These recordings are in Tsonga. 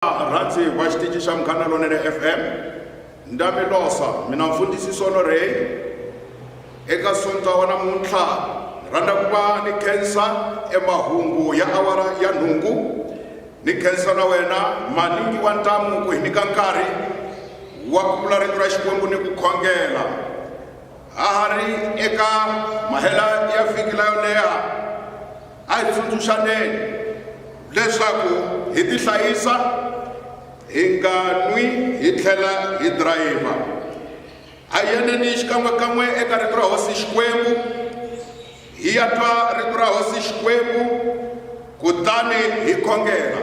rhandzi va xitici xa munghana lonene fm ndami losa mina mfundhisi sono rey eka sonta wa namuntlha ni rhandza ku va ni khensa emahungu ya awara ya nhungu ni khensa na wena maningi wa ntamu ku hi nyika nkarhi wa ku vula rito ra xikwembu ni ku khongela ha ha ri eka mahela ya vhiki la yo leha A hi tsundzuxaneni leswaku hi tihlayisa, hi nga nwi hi tlhela hi dirayivha. A hi yaneni xikan'we-kan'we eka Rito ra Hosi Xikwembu, hi ya twa Rito ra Hosi Xikwembu kutani hi khongela.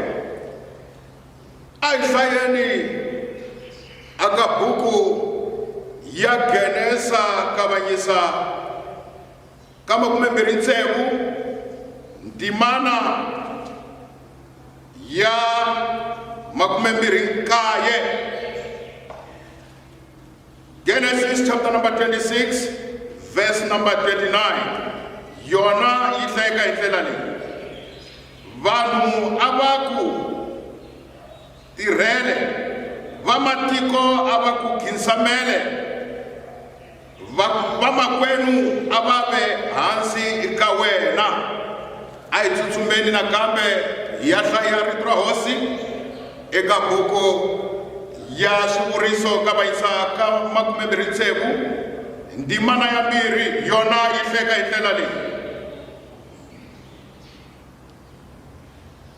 A hi hlayeni aka buku ya Genesa Kavanyisa. ka makumembirhi ntsevu ndzimana ya makumembirhi nkaye genesis chapter number 26 verse number 29 yona yi hlayeka hi ndlela leyi vanhu a va ku tirhele vamatiko a va ku khinsamele vamakwenu a va ve hansi ka wena a hi tsutsumeni nakambe hi ya hlaya rito ra hosi eka buku ya swivuriso ka vayisa ka makumembirhi tsevu ndzimana ya mbirhi yona yi hleka hi ndlela leyi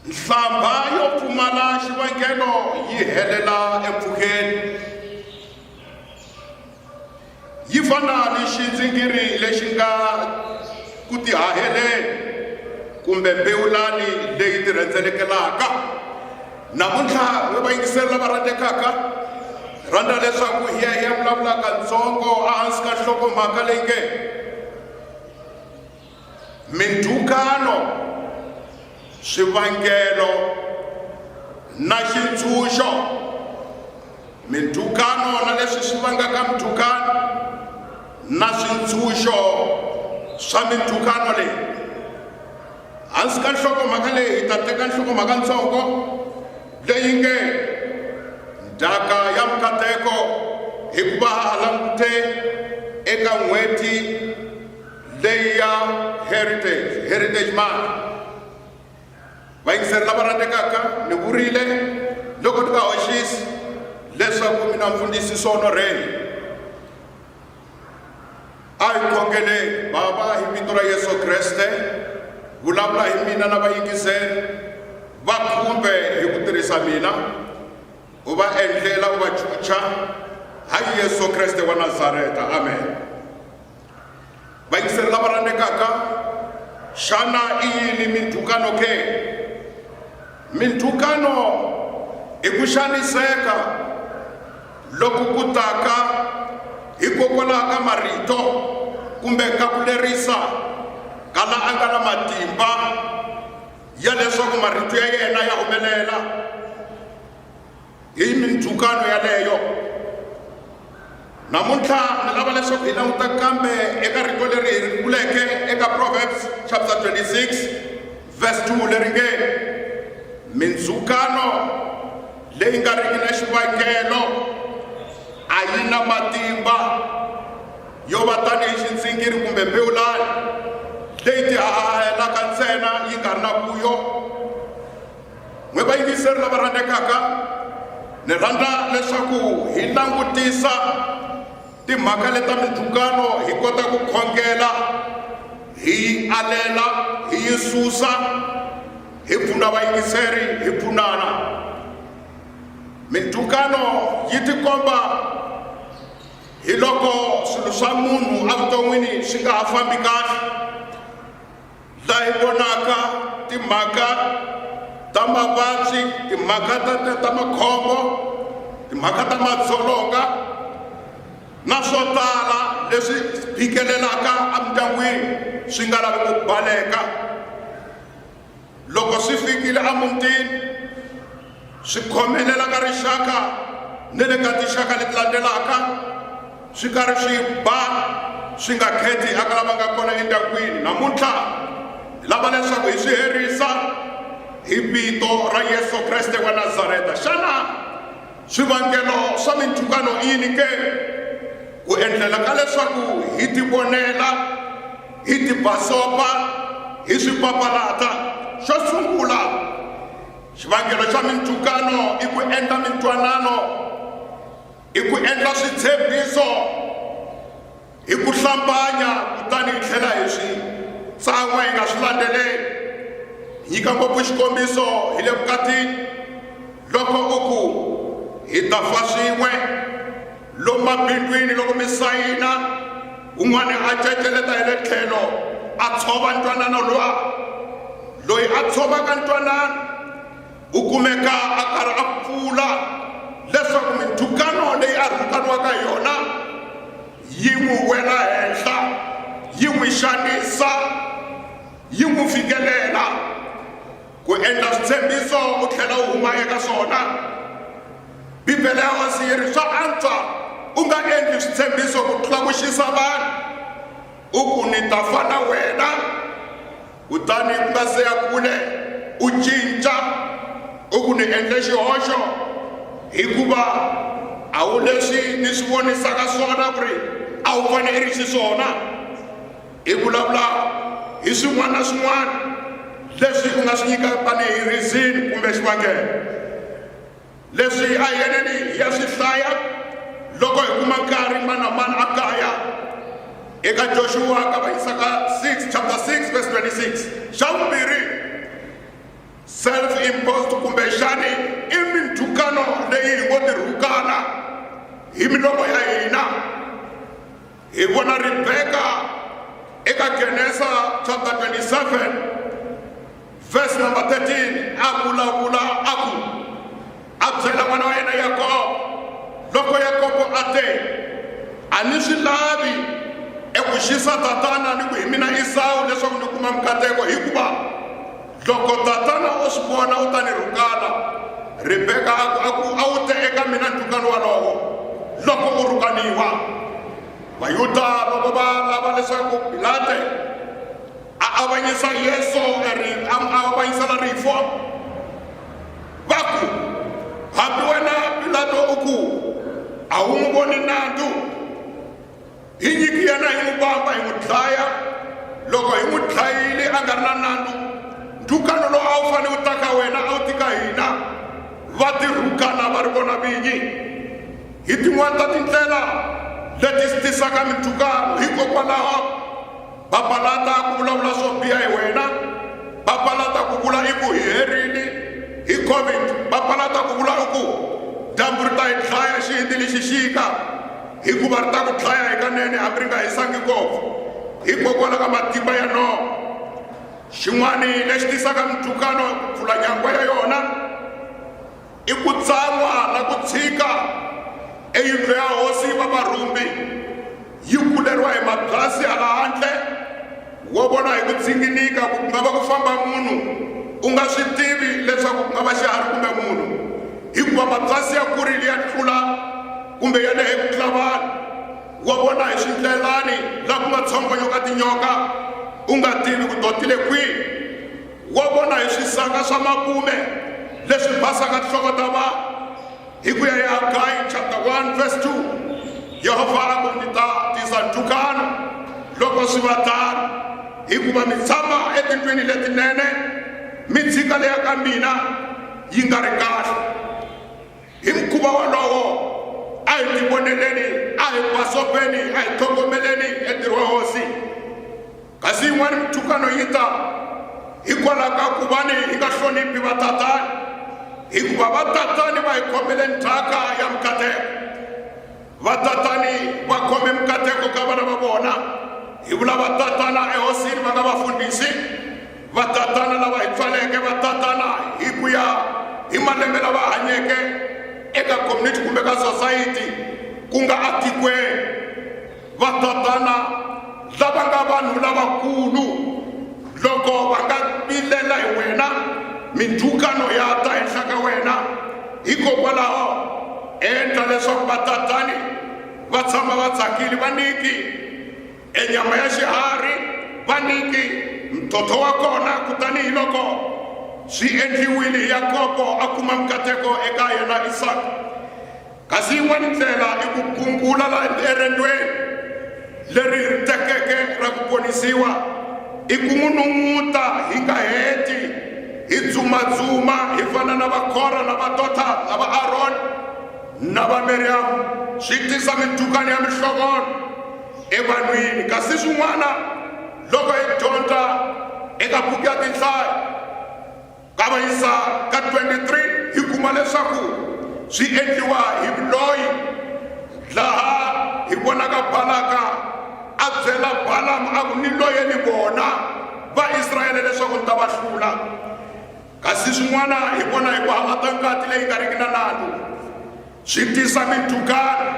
nhlambha yo pfumala xivangelo yi helela empfhukeni yi fana ni xindzingiri lexi nga ku tihaheleni kumbe mbewulani leyi tirhendzelekelaka namuntlha we va yingiseri lava rhandzekaka rhandza leswaku hi ya hi ya vulavulaka ntsongo ehansi ka nhlokomhaka leyi nge mindhukano swivangelo na xintshunxo mindhukano na leswi swi vangaka mindhukano na swintshunxo swa mindhukano leyi hansi ka nhlokomhaka leyi hi ta teka nhlokomhaka ntsongo leyi nge ndhaka ya mikateko hikuva ha langute eka n'hweti leyi ya heritage heritage mark vayingiseri lava rhandzekaka ni vurile loko ni nga hoxisi leswaku mina mfundhisi sonorheni a hi khongeleni bava hi vito ra yesu kreste vulavula hi mina na vayingiseri va khumbe hi ku tirhisa mina u va endlela u va chucha hayi yesu kreste wa nazareta amen vayingiseri lava rhandzekaka xana i yini mindzhukano ke mindzhukano i ku xaniseka loku ku taka hikokwalaho ka marito kumbe ka ku lerisa ka la a nga na matimba ya leswaku marito ya yena ya humelela hi mindzhukano yaleyo namuntlha ni lava leswaku hi languta kambe eka rito leri hi ri vuleke eka proverbs chapter 26 verse 2 leri nge mindzhukano leyi nga riki na xivangelo a yi na matimba yo va tanihi xindzingiri kumbe mbewulani leyi tihahahelaka ntsena yi nga ri na vuyo n'wi vayingiseri lava rhandzekaka ni rhandza leswaku hi langutisa timhaka leta mindzhukano hi kota ku khongela hi yi alela hi yi susa hi pfuna vayingiseri hi pfunana mindzhukano yi tikomba hi loko swilo swa munhu evuton'wini swi nga ha fambi kahle laha hi vonaka timhaka ta mavabyi timhaka ta ta ta makhombo timhaka ta madzolonga na swo tala leswi phikelelaka emindyangwini swi nga lavi ku baleka loko swi fikile emutini swi khomelela ka rixaka ni le ka tinxaka leti landzelaka swi karhi swi ba swi nga kheti aka lava nga kona endyangwini namuntlha hi lava leswaku hi swi herisa hi vito ra yesu kreste wa nazareta xana swivangelo swa mintukano i yini ke ku endlela ka leswaku hi tivonela hi tibasopa hi swi papalata xo sungula xivangelo xa mintukano i ku endla mintwanano i ku endla switshembiso hi ku hlambanya kutani hi tlhela hi swi tsan'wa hi nga swi landzeleli nyika ngopfu xikombiso hi le vukatini loko u ku hi ta fa swin'we Lomu mabindwini loko mi sayina, un'wana a ceceleta hi le tlhelo a tshova ntwanano lowa. Loyi a tshovaka ntwanano u kumeka a karhi a pfula leswaku mindzhukano leyi a rhukaniwaka hi yona yi n'wi wela henhla yi n'wi xanisa yi n'wi fikelela ku endla switshembiso u tlhela u huma eka swona bibele ya wasi yi ri swa antswa u nga endli switshembiso ku tlula ku xisa vanhu u ku ni ta fa na wena kutani ku nga se ya kule u cinca u ku ni endle xihoxo hikuva a wu leswi ni swi vonisaka swona ku ri a wu fanele ri xiswona Hi vulavula hi swin'wana na swin'wana leswi u nga swi nyika tanihi rizini kumbe xivangelo leswi a hi yeneni hi ya swi hlaya loko hi kuma nkarhi mani na mani a kaya eka joshua ka va yisaka 6 chapter 6 verse 26 xa vumbirhi self imposed kumbe xani i mindzhukano leyi hi ngo tirhukana hi milomo ya hina Hi vona Ribeka eka Genesa chapter 27 verse number 13 a vulavula a ku a byela n'wana wa yena Yakobo loko Yakobo a te a ni swi lavi eku xisa tatana ni ku hi mina Esawu leswaku ni kuma nkateko hikuva Loko tatana o swi vona u ta ni rhukana. Rebeka a ku, a ku, a wu te eka mina ndhukano walowo loko u rhukaniwa. Vayuda loko va lava leswaku Pilate a avanyisa Yesu a avanyisela rifu, va ku, hambi wena Pilato u ku a wu n'wi voni nandzu hi nyiki yena hi n'wi vamba hi n'wi dlaya loko hi n'wi dlayile a nga ri na nandzu ndhukano lowu a wu fanele wu ta ka wena a wu tika hina va tirhukana va ri vona vinyi hi tin'wana ta tindlela leti swi tisaka mindhukano hikokwalaho papalata ku vulavula swo biha hi wena papalata ku vula i ku hi herini hi covid papalata ku vula i ku dyambu ri ta hi dlaya xihindi lexi xika hikuva ri ta ku dlaya hikanene hambi ri nga hisangi ngopfu hikokwalaho ka matimba ya noho xin'wana lexi tisaka mintukano pfula nyangwa ya yona i ku tsan'wa na ku tshika eyindlo ya hosi va varhumbi yi kuleriwa hi mabyasi hala handle wo vona hi ku dzinginika ku nga va ku famba munhu u nga swi tivi leswaku ku nga va xiharhi kumbe munhu hikuva mabyasi ya kurile ya tlula kumbe ya lehe ku tlula vanhu wa vona hi swindlelani laha ku nga tshongonyo ka tinyoka u nga tivi ku dotile kwihi Wa vona hi swisaka swa makume leswi basaka tinhloko ta vanhu. Hi ku ya hi Hagayi chapter 1 verse 2, Yehovha a ku, Ndzi ta tisa ntukano loko swi va tano, hikuva mi tshama etindlwini letinene, mi dzika leya ka mina yi nga ri kahle. Hi mukhuva wolowo, a hi tivoneleni, a hi basopeni, a hi tlhogomeleni entirho wa Hosi. kasi yin'wana mintukano yi ta hikwalaho ka ku va ni hi nga hloniphi vatatani hikuva vatatani va hi khomele ndzhaka ya mikateko vatatani va khome mikateko ka vana va vona hi vula vatatana ehosini va nga vafundhisi vatatana lava hi pfaleke vatatana hi ku ya hi malembe lava hanyeke eka community kumbe ka society ku nga atikweni vatatana lava nga vanhu lavakulu loko va nga vilela hi wena mindzhukano ya ta henhla ka wena hikokwalaho endla leswaku vatatani va tshama va tsakile va niki enyama ya xiharhi va niki mtotho wa kona kutani hi loko swi endliwile yakobo a kuma nkateko eka yena isaka Kasi yin'wana ndlela i ku gungula la erendweni leri hirhitekeke ra ku ponisiwa, i ku n'wi nun'uta hi nga heti, hi dzumadzuma hi fana na Vakora na vadota la va Aroni na va Miriyamu, swi tisa mintukani ya mihlovono evanhwini. Kasi swin'wana loko hi dyondza eka buku ya Tinhlayo, Kavanyisa ka 23 hi kuma leswaku swi endliwa hi vuloyi, laha hi vonaka Balaka a byela Balamu a ku, Ni loyeni vona Vaisrayele leswaku ni ta va hlula. Kasi swin'wana hi vona hi ku halata ngati leyi nga riki na nandzu swi tisa mindzhukano.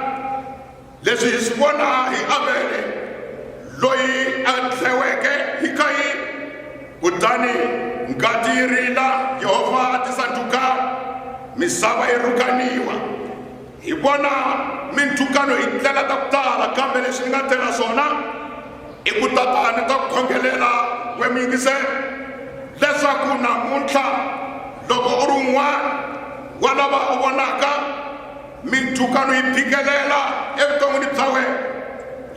Leswi hi swi vona hi Avele loyi a dleweke hi Kayini. Kutani ngati yi rila, Yehovha a tisa ntukano, misava yi rhukaniwa. Hi vona mintukano hi ndlela ta ku tala, kambe lexi ni nga tela swona i ku tata ni ta ku khongelela we mi yingisela leswaku namuntlha loko u ri un'wana wa lava u vonaka Mindzhukano yi phikelela evuton'wini bya wena.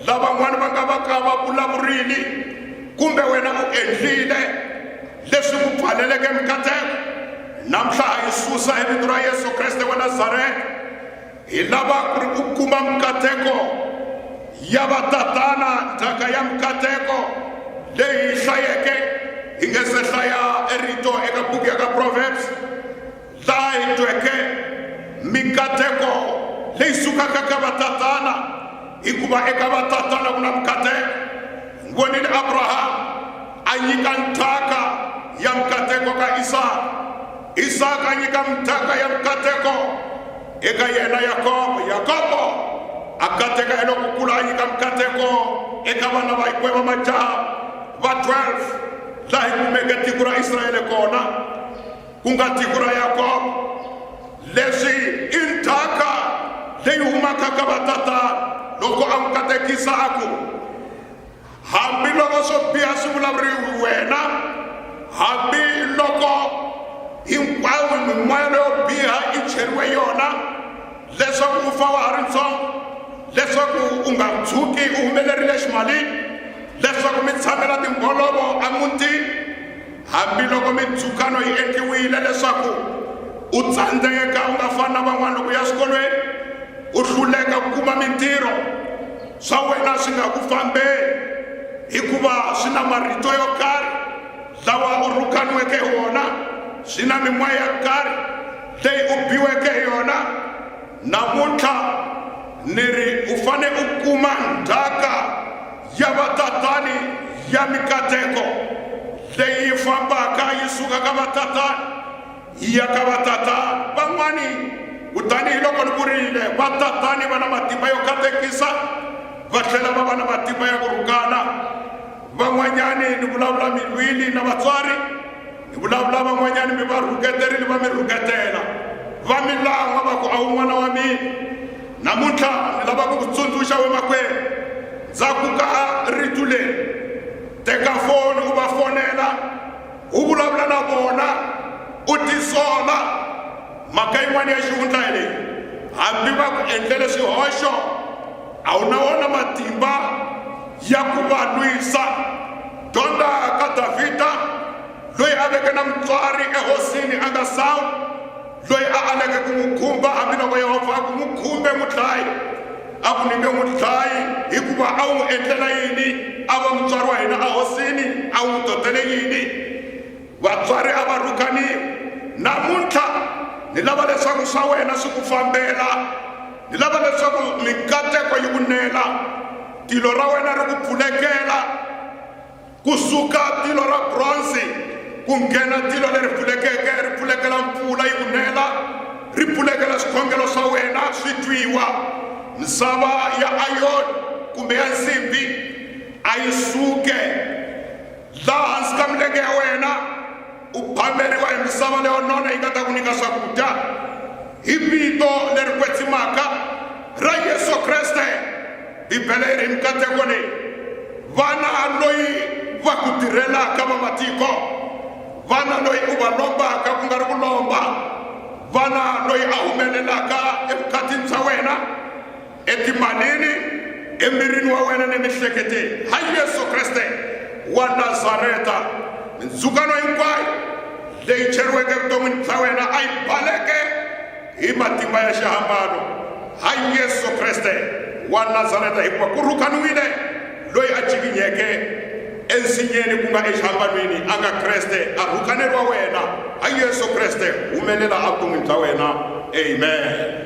Lavan'wana va nga va ka va vulavurile kumbe wena u endlile leswi ku pfaleleke mikateko. Namuntlha ha yi susa hi vito ra Yesu Kreste wa Nazareta. Hi lava ku ri u kuma mikateko ya vatatana, ndzhaka ya mikateko leyi hi hlayeke hi nge se hlaya erito eka buku ya ka Proverbs. laha hi tweke mikateko leyi sukaka ka vatatana hikuva eka vatatana ku na mikateko hi vonile abrahamu a nyika nthaka ya mikateko ka isaka isaka a nyika mithaka ya mikateko eka yena yakobo yakobo a kateka hi loko kula a nyika mikateko eka vana va hikwe va majaha va 12 laha hi kumeke tiko ra israele kona ku nga tiko ra yakobo leswi i ndzhaka leyi humaka ka vatatana loko a n'wi katekisa a ku hambiloko swo biha swi vulavuriwi wena hambiloko hinkwayo mimoya leyo biha i cheriwe yona leswaku u fa wa ha ri ntsongo leswaku u nga tshuki u humelerile ximalini leswaku mi tshamela timbolovo emutini Hambiloko mindzhukano yi endliwile leswaku u tsandzeka u nga fani na van'wana loko u ya swikolweni, u hluleka ku kuma mintirho, swa wena swi nga ku fambeli hikuva swi na marito yo karhi lawa u rhukaniweke hi wona, swi na mimoya ya karhi leyi u biweke hi yona. Namuntlha ni ri u fane u kuma ndzhaka. ya vatatani ya mikateko leyi fambaka yi suka ka vatatani yi ya ka vatatani van'wani kutani hi loko ni vurile vatatani va na matimba yo katekisa va tlhela va va na matimba ya ku rhukana van'wanyani ni vulavula milwini na vatswari ni vulavula van'wanyani mi va rhuketerile va mi rhuketela va mi lan'wa va ku a wu n'wana wa mina Namuntlha ni lava ku ku tsundzuxa wemakwerhu, ndza ku ka a rito leri, teka foni u va fonela, u vulavula na vona, u tisola. Mhaka yin'wana ya xihundla hi leyi, hambi va ku endlele swihoxo, a wu na wona matimba ya ku va lwisa. Dyondza ka Davhida loyi a veke na mutswari ehosini a nga sawi. loyi a aleke ku n'wi khumba hambiloko yehovha a ku n'wi khumbe mudlayi a ku nike mudlayi hikuva a wu n'wi endlela yini a va mutswari wa hina ahosini a wu n'wi dodele yini vatswari a va rhukaniwi namuntlha ni lava leswaku swa wena swi ku fambela ni lava leswaku mikateko yi ku nela tilo ra wena ri ku pfulekela ku suka tilo ra bronzi ku nghena tilo leri pfulekeke ri pfulekela mpfula yi ku nela ri pfulekela swikhongelo swa wena swi twiwa misava ya ayoni kumbe ya nsimbi a yi suke laha hansi ka milenge ya wena u phameriwa hi misava leyo nona yi nga ta ku nyika swakudya hi vito leri kwetsimaka ra yesu kreste bibele yi ri mikateko leyi vana loyi va ku tirhelaka va matiko vana loyi u va lombaka ku nga ri ku lomba vana loyi a humelelaka evukatini bya wena etimalini emirini wa wena ni mihleketeni ha yesu kreste wa nazareta mindzukano hinkwayo leyi cheriweke evuton'wini bya wena a yi baleke hi matimba ya xihambano ha yesu kreste wa nazareta hikuva ku rhukaniwile loyi a jikinyeke ensinyeni ku nga exihambanweni a nga kreste a rhukaneri wa wena ha yesu kreste humelela evuton'wini bya wena amen